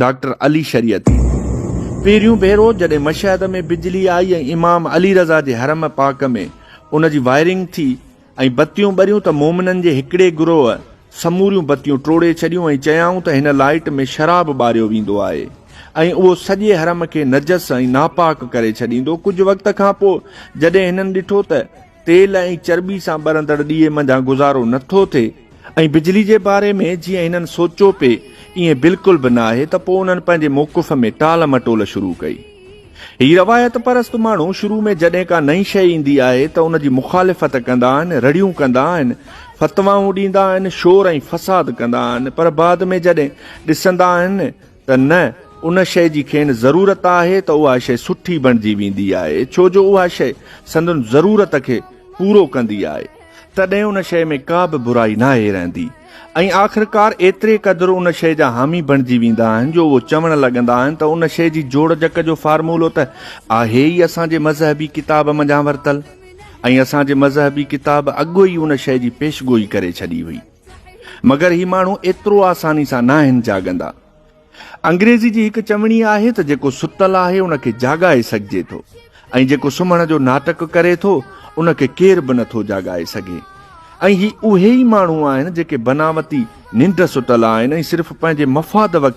Doctor Ali Shariati پهريون ڀيرو جڏهن مشهد ۾ بجلي آئي ۽ امام علي رضه جي حرم پاڪ ۾ ان جي وائرنگ ٿي ۽ بتيون ٻريون ته مومنن جي هڪڙي گروهه سموريون بتيون ٽوڙي ڇڏيون ۽ چيائون ته هن لائٽ ۾ شراب ٻاريو ويندو آهي ۽ اهو سڄي حرم کي نجس ۽ ناپاڪ ڪري ڇڏيندو ڪجهه وقت کان پوء جڏهن هنن ڏٺو ته تيل ۽ چرٻي سان ٻرندڙ ڏيئي منجهان گذارو نه ٿو ٿئي ۽ بجلي جي باري ۾ جيئن هنن سوچيو پئي ائين بلڪل به ناهي ته پوء انهن پنهنجي موقف ۾ ٽال مٽول شروع ڪئي. هي روايت پرست ماڻهو شروع ۾ جڏهن ڪا نئين شيء ايندي آهي ته ان جي مخالفت ڪندا آهن، رڙيون ڪندا آهن، فتوائون ڏيندا آهن، شور ۽ فساد ڪندا آهن پر بعد ۾ جڏهن ڏسندا آهن ته نه ان شيء جي کين ضرورت آهي ته اها شيء سٺي بڻجي ويندي آهي، ڇو جو اها شيء سندن ضرورت کي پورو ڪندي آهي، تڏهن ان شيء ۾ ڪا به برائي ناهي رهندي ۽ آخرڪار ايتري قدر ان شيء جا حامي بڻجي ويندا آهن جو اهو چوڻ لڳندا آهن ته ان شيء جي جوڙجڪ جو فارمولو ته آهي ئي اسان جي مذهبي ڪتاب منجهان ورتل ۽ اسان جي مذهبي ڪتاب اڳ ئي ان شيء جي پيشگوئي ڪري ڇڏي هئي. مگر هي ماڻهو ايترو آساني سان ناهن جاڳندا. انگريزي جي هڪ چوڻي آهي ته جيڪو ستل آهي ان کي جاڳائي سگهجي ٿو ۽ جيڪو سمهڻ جو ناٽڪ ڪري ٿو ان کي ڪير به نٿو جاڳائي سگهي ۽ هي اهي ئي ماڻهو آهن جيڪي بناوتي ننڊ ستل آهن ۽ صرف پنهنجي مفاد وقت